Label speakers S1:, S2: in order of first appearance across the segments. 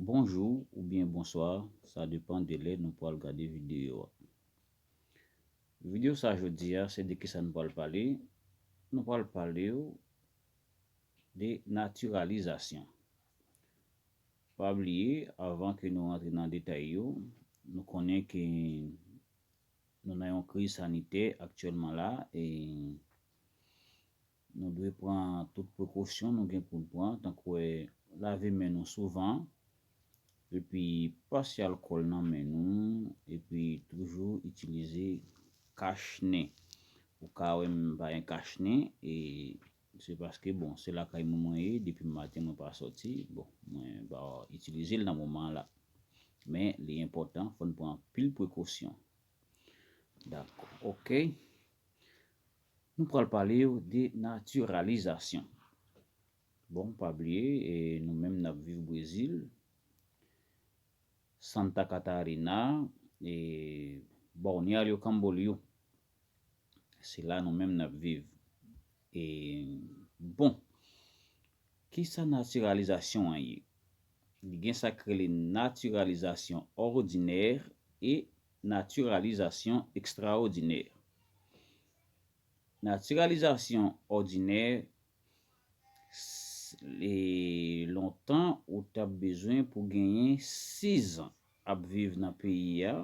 S1: Bonjou ou byen bonswa, sa depan de lè nou pwal gade videyo a. Videyo sa jodi a, se de ki sa nou pwal pale, nou pwal pale ou de natiralizasyon. Pa bliye, avan ke nou antre nan detay yo, nou konnen ke nou nan yon kriz sanitè aktyèlman la, e Nou dwe pran tout prekosyon nou gen pou n pran, tankou lave men nou souvan, epi pase alkòl nan men nou, epi toujou itilize kach nen. Ou ka wè m pa gen kach nen, e se paske bon se lakay moun mwen ye, depi maten mwen pa sòti, bon mwen pa itilize l nan moman an la. Men li enpòtan fò n pran anpil prekosyon. Dakò ok. Nou pral pale w de natiralizasyon. Bon, pa bliye, nou menm n ap viv Brezil, Santa Catarina, Balneario Camboliú, se la nou menm n ap viv. Bon, ki sa natiralizasyon an ye? Li gen sa k rele natiralizasyon òdinè e Natiralizasyon Ekstraòdinè Natiralizasyon òdinè s Lontan ou t ap bezwen pou genyen sizan ap viv nan peyi a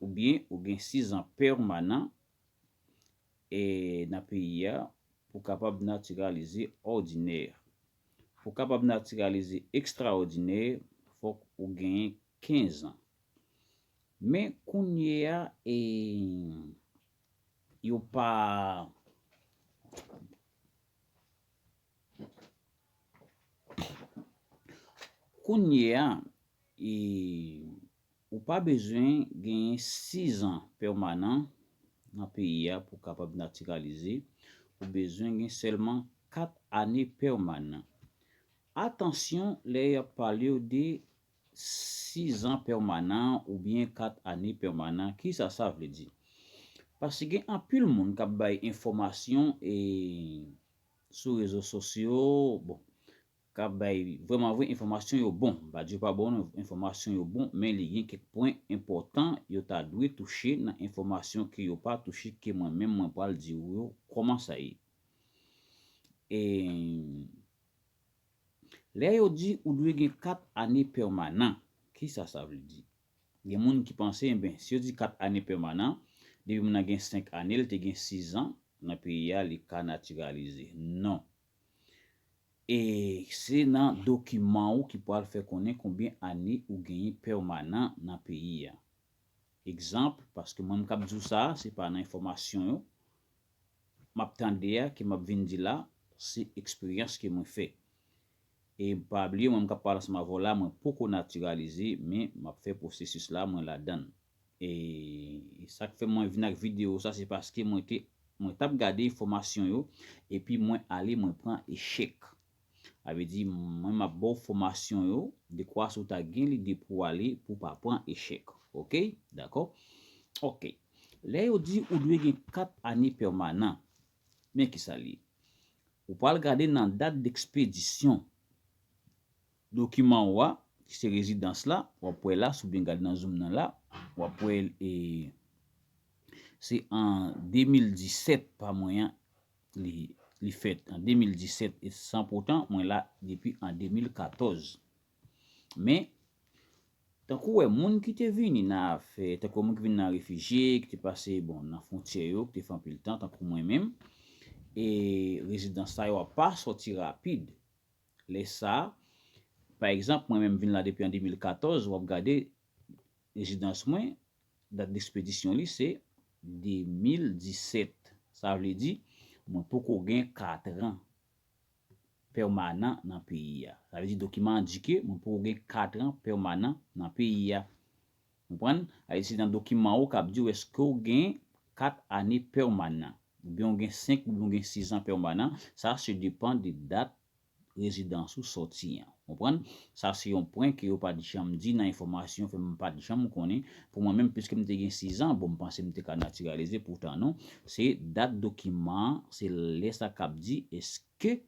S1: oubyen ou gen sizan pèmanan e nan peyi a pou kapab natiralize òdinè Pou kapab natiralize ekstraòdinè fòk ou genyen 15 ans. Men kounyea yo pa bezwen genyen 6 ans pèmanan nan peyi a pou kapab natiralize, ou bezwen gen sèlman 4 ane pèmanan. Atansyon lè yap palew de Sizan pèmanan oubyen kat ane pèmanan, kisa sa vle di? Paske gen anpil moun k ap bay enfòmasyon sou rezo sosyo, bon, k ap bay vrèmanvre enfòmasyon yo bon. M pa di yo pa bon non, enfòmasyon yo bon, men li gen kèk pwen enpòtan yo ta dwe touche nan enfòmasyon ke yo pa touche ke mwen menm mwen pral di ou yo kòman sa ye. Lè yo di ou dwe gen 4 ane pèmanan, kisa sa vle di? Gen moun ki panse enben si yo di 4 ane pèmanan, depi moun nan gen 5 ane l te gen 6 an nan peyi a li ka natiralize. Non. E se nan dokiman ou ki pral fè konnen konbyen ane ou genyen pèmanan nan peyi a. Egzanp, paske mwen m k ap di w sa, se pa nan enfòmasyon yo, map tande a ke map vin di la se eksperyans ke mwen fè. E pa bliye mwen m kap pale ansanm avè w la mwen poko natiralize men map fè pwosesis la mwen ladann. E sak fè mwen vin ak video sa se paske mwen te mwen tap gade enfòmasyon yo epi mwen ale mwen pran echèk. Sa vle di mwen map baw fòmasyon yo dekwa si w ta gen lide pou w ale pou w pa pran echèk ok dakò ok lè yo di ou dwe gen 4 ane pèmanan men kisa l ye ou pral gade nan dat dekspedisyon dokiman ou a ki se rezidans la wap wè la si w byen gade nan zoom nan la wap wè l e se an 2017 pa mwen an Li fèt an 2017 e san poutan mwen la depi an 2014. Men, tankou wè moun ki te vini nan afè, tankou wè moun ki vini nan refijye, ki te pase bon nan fwontyè yo, ki te fè anpil tan tankou mwen menm, e rezidans sa yo a pa sòti rapid. Lè sa, pa egzanp mwen menm vin la depi an 2014, w ap gade rezidans mwen, Dat despedisyon li se 2017. Sa vle di, mwen poko gen katran pèmanan nan peyi a. Sa vle di dokiman an di ke mwen poko gen katran pèmanan nan peyi a. Konprann? Sa vle di se nan dokiman ou k ap di ou èske ou gen kat ane pèmanan. Oubyen ou gen senk oubyen ou gen sizan pèmanan. Sa se depan de dat rezidans ou sòti an. Konprann? Sa se yon pwen ke yo pa t janm di nan enfòmasyon fè m pa t janm konnen. Pou mwen menm piske m te gen 6 an, bon m panse m te ka natiralize poutan non. Se dat dokiman an, se lè sa k ap di eske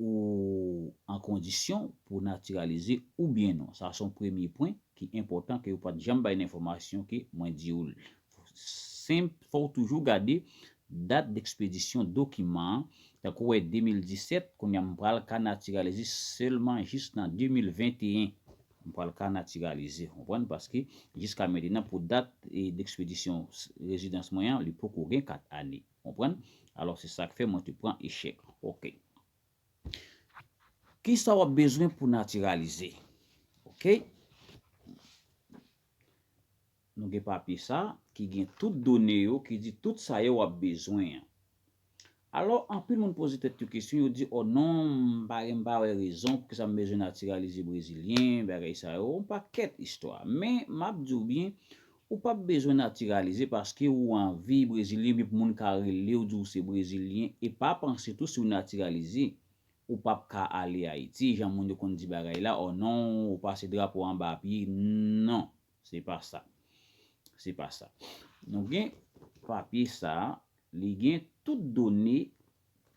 S1: ou an kondisyon pou w natiralize oubyen non. Sa se yon premye pwen ki enpòtan ke yo pa t janm bay nan enfòmasyon ke mwen di w senp fò w toujou gade dat dekspedisyon dokiman an tankou wè 2017 kounya m pral ka natiralize sèlman jis nan 2021 m pral ka natiralize konprann paske jiska mentenan pou dat dekspedisyon rezidans mwen an li poko gen 4 ane konprann alò se sak fè mwen te pran echèk ok kisa wap bezwen pou natiralize ok. Nou gen papye sa ki gen tout done yo ki di tout sa yo ap bezwen an. Alò, anpil moun poze tèt yo kesyon, yo di o non, m pa gen m pa wè rezon pou kisa m bezwen natiralize brezilyen, bagay sa yo, on pakèt istwa. Men, m ap di w byen, ou p ap bezwen natiralize paske ou anvi brezilyen oubyen pou moun ka rele w di w se brezilyen e pa panse tou si w natiralize, ou p ap ka ale Ayiti jan moun yo konn di bagay la o non, ou pase drapo anba pye, non. Se pa sa. Se pa sa. Nou gen papye sa a, li gen tout done,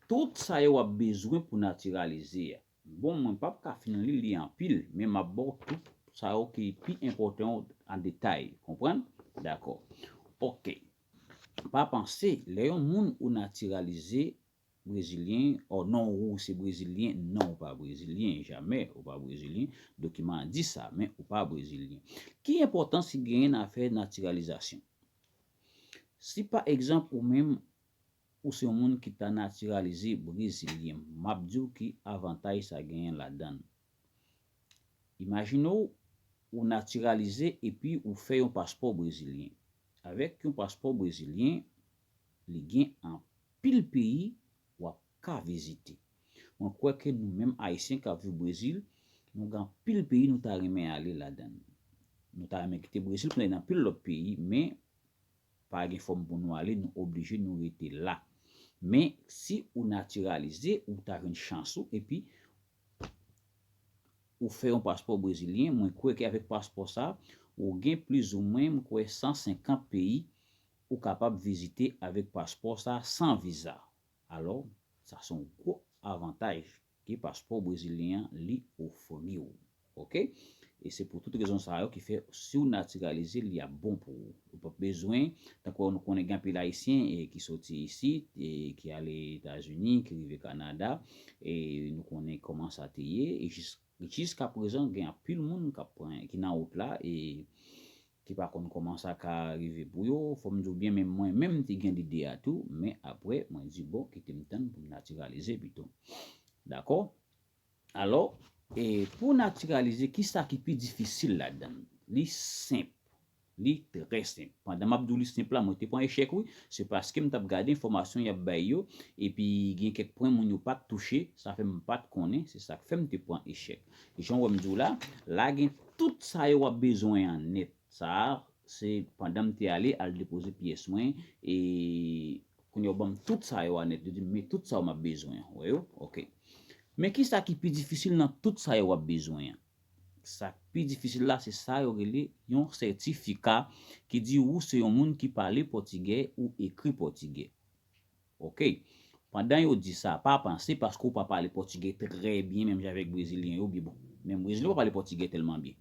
S1: tout sa yo w ap bezwen pou natiralize a. Bon, mwen pap ka fin li l, li anpil, men m ap ba w tout sa yo ki pi enpòtan yo an detay. Konprann? Dakò. Ok. Pa panse, lè yon moun ou natiralize, Brezilyen, Ò non wou se brezilyen, non ou pa brezilyen, jamè ou pa brezilyen, dokiman an di sa, men ou pa brezilyen. Ki enpòtans ki genyen nan afè natiralizasyon? Si pa egzanp ou menm ou se yon moun ki ta natiralize brezilyen, m ap di w ki avantaj sa genyen ladan l. Imajine w ou natiralize epi ou fè yon paspò brezilyen. Avèk yon paspò brezilyen, li gen anpil peyi wap ka vizite. Mwen kwè ke nou menm Ayisyen kap viv Brezil, nou gen anpil peyi nou ta renmen ale ladann. Nou ta renmen kite Brezil pou n ale nan anpil lòt peyi, men pa gen fòm pou nou ale, nou oblije nou rete la. Men, si ou natiralize, ou ta jwenn chans ou, epi ou fè yon paspò brezilyen, mwen kwè ke avèk paspò sa, ou gen plizoumwen, mwen kwè 150 peyi Ou kapab vizite avèk paspò sa san viza. Alò, sa son gwo avantaj ke paspò brezilyen an li ofri ou. Ok. E se pou tout rezon sa yo ki fè si w natiralize li ap bon pou ou. Ou pap bezwen, tankou nou konnen gen anpil ayisyen ki soti isit, ki ale Etazini, ki rive Kanada, e nou konnen kòman sa te ye, e jiskaprezan gen anpil moun kap pran, ki nan wout la, e Te pa konn koman sa ka rive pou yo, fò m di w byen menm mwen menm m te gen lide a tou, men aprè mwen di bon kite m tann pou m natiralize pito. Dakò? Alò, e pou w natiralize ki sa ki pi difisil ladan l? Li senp. Li trè senp. Pandan m ap di w li senp la mwen te pran echèk wi, se paske m t ap gade enfòmasyon y ap bay yo epi gen kèk pwen moun yo pa t touche, sa fè m pa t konnen, se sa k fè m te pran echèk. Jan wè m di w la, la gen tout sa yo w ap bezwen an nèt. Sa a, se pandan m te ale al depoze pyès mwen e kounye a yo ban m tout sa yo a nèt. Yo di m, men tout sa yo m ap bezwen an. Ou wè yo? Ok. Men ki sa ki pi difisil nan tout sa yo w ap bezwen an? Sa k pi difisil la se sa yo rele yon sètifika ki di ou se yon moun ki pale pòtigè ou ekri pòtigè. Ok. Pandan yo di sa, pa panse paske ou pa pale pòtigè trè byen menm jan avèk brezilyen yo bi bon. Menm brezilyen yo pa pale pòtigè tèlman byen.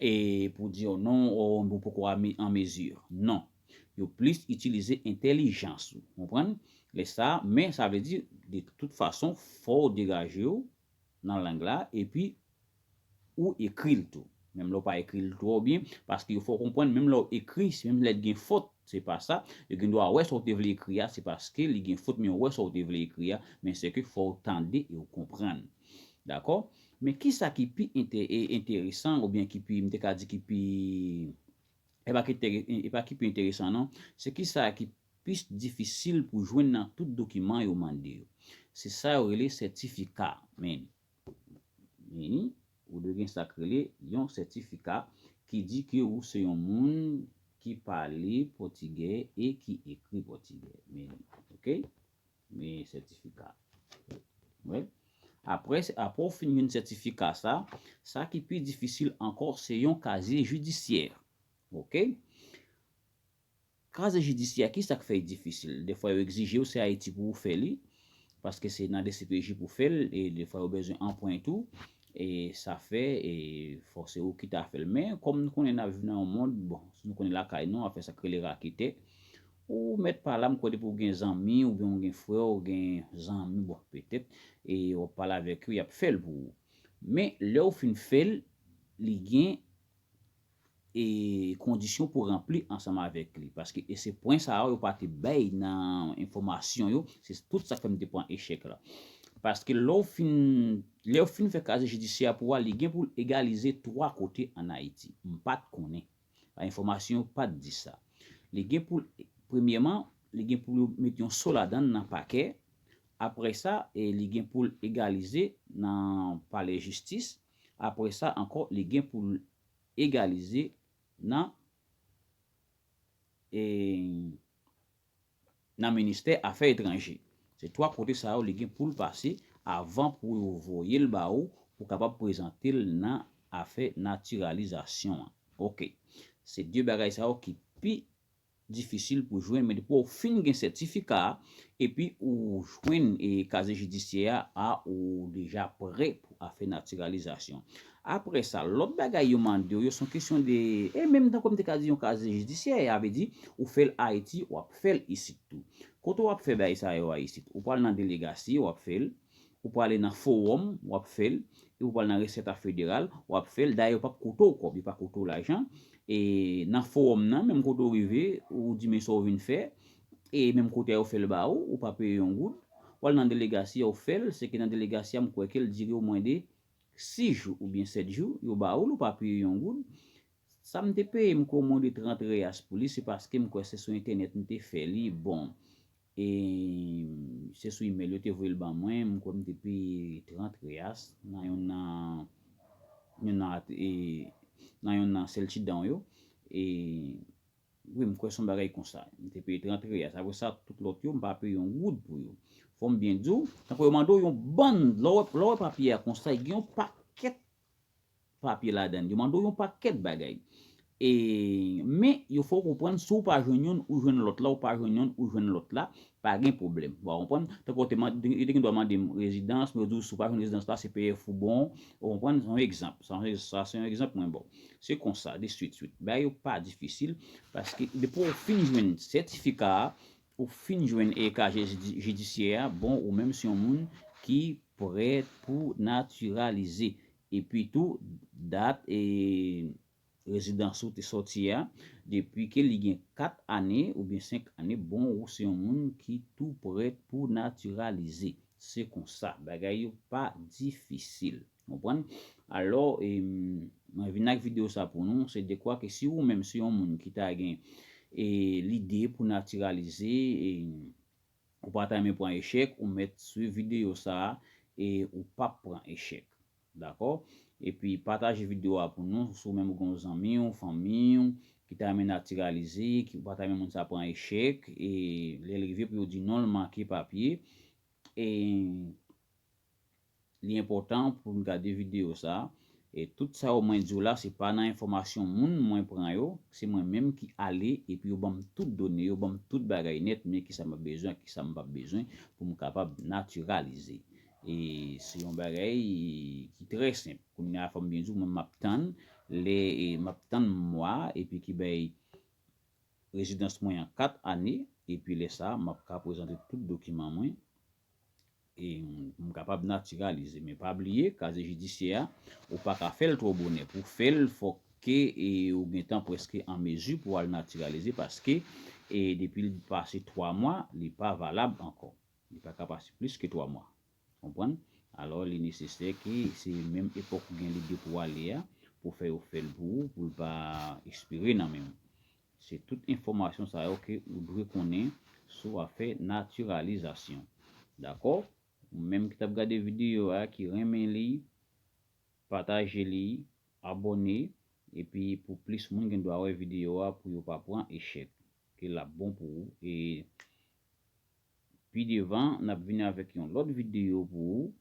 S1: E pou di yo non o ou poko an mezi. Non. Yo plis itilize entèlijans ou. Konprann? Lè sa, men sa vle di de tout fason fò ou degaje ou nan lang la epi ou ekri l tou. Menm lè w pa ekri l twò byen, paske yo fè w konprann menm lè w ekri, se menm lèt gen fot, se pa sa, yo gen dwa wè sa w te vle ekri a, se paske li gen fot men yo wè sa w te vle ekri a, men se ke fò w tande e w konprann. Dakò? Men ki sa ki pi ente, e, enteresan oubyen ki pi, m te ka di ki pi, e pa ki tere, e pa ki pi enteresan non, se ki sa ki plis difisil pou jwenn nan tout dokiman yo mande yo. Se sa yo rele sètifika, men. Vini, ou dwe gen sa k rele yon sètifika ki di ke ou se yon moun ki pale pòtigè e ki ekri pòtigè. Vini. Ok? Vini sètifika. Wè? Apre apre ou fin jwenn sètifika sa, sa ki pi difisil ankò se yon kazye jidisyè. Ok? Kaze jidisyè kisa k fè y difisil? Defwa yo egzije w se Ayiti pou ou fè li, paske se nan dcpj pou fè l, e defwa yo bezwen anpwen tou, e sa fè e fò se ou ki ta fè l. Men kòm nou konnen n ap viv nan yon mond, bon si nou konnen lakay nou afè sa k rele raketè, ou mèt pa la m kwè depi w gen zanmi oubyen w gen frè w gen zanmi bon petèt e w ap pale avèk yo y ap fè l pou ou. Men lè w fin fè l li gen e kondisyon pou ranpli ansanm avèk li paske e se pwen sa yo yo pa te bay nan enfòmasyon yo se tout sa k fè m te pran echèk la paske lè w fin lè yo fin fè kaziye jidisyè a pou a li gen pou l egalize 3 kote ann Ayiti m pa t konnen a enfòmasyon yo pa t di sa li gen pou l premyèman li gen pou yo met yon so ladan l nan pakè apre sa e li gen pou l egalize nan palè jistis apre sa ankò li gen pou l egalize nan nan ministè afè etranje. Se 3 kote sa yo li gen pou l pase avan pou yo voye l ba ou pou kapab prezante l nan afè natiralizasyon an. Ok. Se 2 bagay sa yo ki pi difisil pou jwenn men depi w fin gen sètifika a epi ou jwenn kazye jidisyè a a ou deja prè pou afè natiralizasyon aprè sa lòt bagay yo mande w yo son kesyon de e menm tankou m te ka di yon kazye jidisyè a vle di ou fè l ayiti w ap fè l isit tou kote w ap fè bagay sa yo a isit ou pral nan delegasi w ap fè l. Ou prale nan forom, wap fel, epi ou prale nan reset a federal, wap fel, dayè yo pap koute w kob, yo pa koute w lajan, e nan forom nan, menm kote ou rive, ou di men sa ou vin fè, e menm kote a yo fel ba ou, ou pa peye yon goud, wal nan delegasi a ou fel, se ke nan delegasi a m kwè kel dire ou mwen de 6 jou ou byen 7 jou, yo ba ou l ou pa peye yon goud, sa m te peye m kwè ou mwen de 30 reas pou li, se paske m kwè se sou entènèt m te fè li, bon, E se sou email yo te voye l ban mwen, m kwè m te peye 30 reas nan youn nan youn nan at e nan youn nan sèl ti dan w yo. E wi m kwè s on bagay konsa. M te peye 30 reas. Apre sa tout lòt yo m pa peye yon goud pou yo. Fò m byen di w, tankou yo mande w yon bann lè w wè lè w wè papye a konsa, gen yon pakèt papye ladann, yo mande w yon pakèt bagay. E men yo fè w konprann si w pa jwenn youn ou jwenn lòt la, w pa jwenn youn ou jwenn lòt la, pa gen pwoblèm. Ou konprann? Tankou yo te mande, yo te gen dwa mande m rezidans, men yo di w si w pa jwenn rezidans la, CPF ou bon. Ou konprann? Se yon egzanp. Sa se, sa se yon egzanp mwen ba w. Se konsa, de swit swit. Bagay yo pa difisil, paske depi w fin jwenn sètifika a, Ou fin jwenn e kaje jidisyè a bon ou menm se yon moun ki prè pou natiralize epi tou dat e rezidans ou te sòti a depi ke li gen 4 ane oubyen 5 ane bon ou se yon moun ki tou prè pou natiralize se konsa bagay yo pa difisil. Konprann? Alò, e, mwen vin ak videyo sa pou nou, se dekwa ke si ou menm se yon moun ki ta gen, e, lide pou natiralize, e, ou pa ta renmen pran echèk, ou mèt swiv videyo sa, e, ou p ap pran echèk. Dakò? Epi, pataje videyo a pou nou, si ou menm ou gen yon zanmi ou, fanmi ou, ki ta renmen natiralize, ki ou pa ta renmen moun sa pran echèk, e, lè l rive pou yo di non l manke papye, e. Li enpòtan pou n gade videyo sa a, e tout sa yo mwen di w la se pa nan enfòmasyon moun mwen pran yo, se mwen menm ki ale epi yo ban m tout done yo, ban m tout bagay nèt, men kisa m ap bezwen ak kisa m pap bezwen pou m kapab natiralize. E se yon bagay ki trè senp. Kounye a fò m byen di w mwen menm m ap tann lè m ap tann mwa epi ki bay rezidans mwen an 4 ane epi lè sa a m ap ka prezante tout dokiman mwen E m kapab natiralize men pa bliye kaze jidisyè a ou pa ka fè l twò bonè pou fè l fòk ke ou gentan prèske an mezi pou al natiralize paske depi l pase 3 mwa li pa valab ankò li pa ka pase plis ke 3 mwa konprann alò li nesesè ke se menm epòk ou gen lide pou ale a pou fè yo fè l pou ou pou l pa espire nan men w Se tout enfòmasyon sa yo ke ou dwe konnen sou afè natiralizasyon. Dakò? Ou menm ki tap gade videyo a ki renmen li, pataje li, abòne, epi pou plis moun gen dwa wè videyo a pou yo pa pran echèk. Ke lap bon pou ou e Pi devan nap vini avèk yon lòt videyo pou ou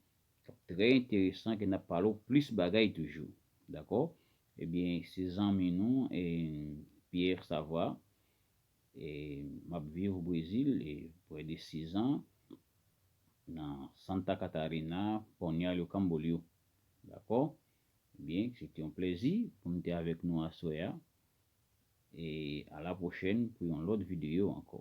S1: kap trè enteresan ke nap pale w plis bagay toujou dakò ebyen se zanmi nou Pierre Savoie e map viv o Brezil e prè de 6 an nan Santa Catarina Balneario Camboriú dakò ebyen se te yon plèzi pou m te avèk nou aswè a E a la prochèn pou yon lòt videyo ankò.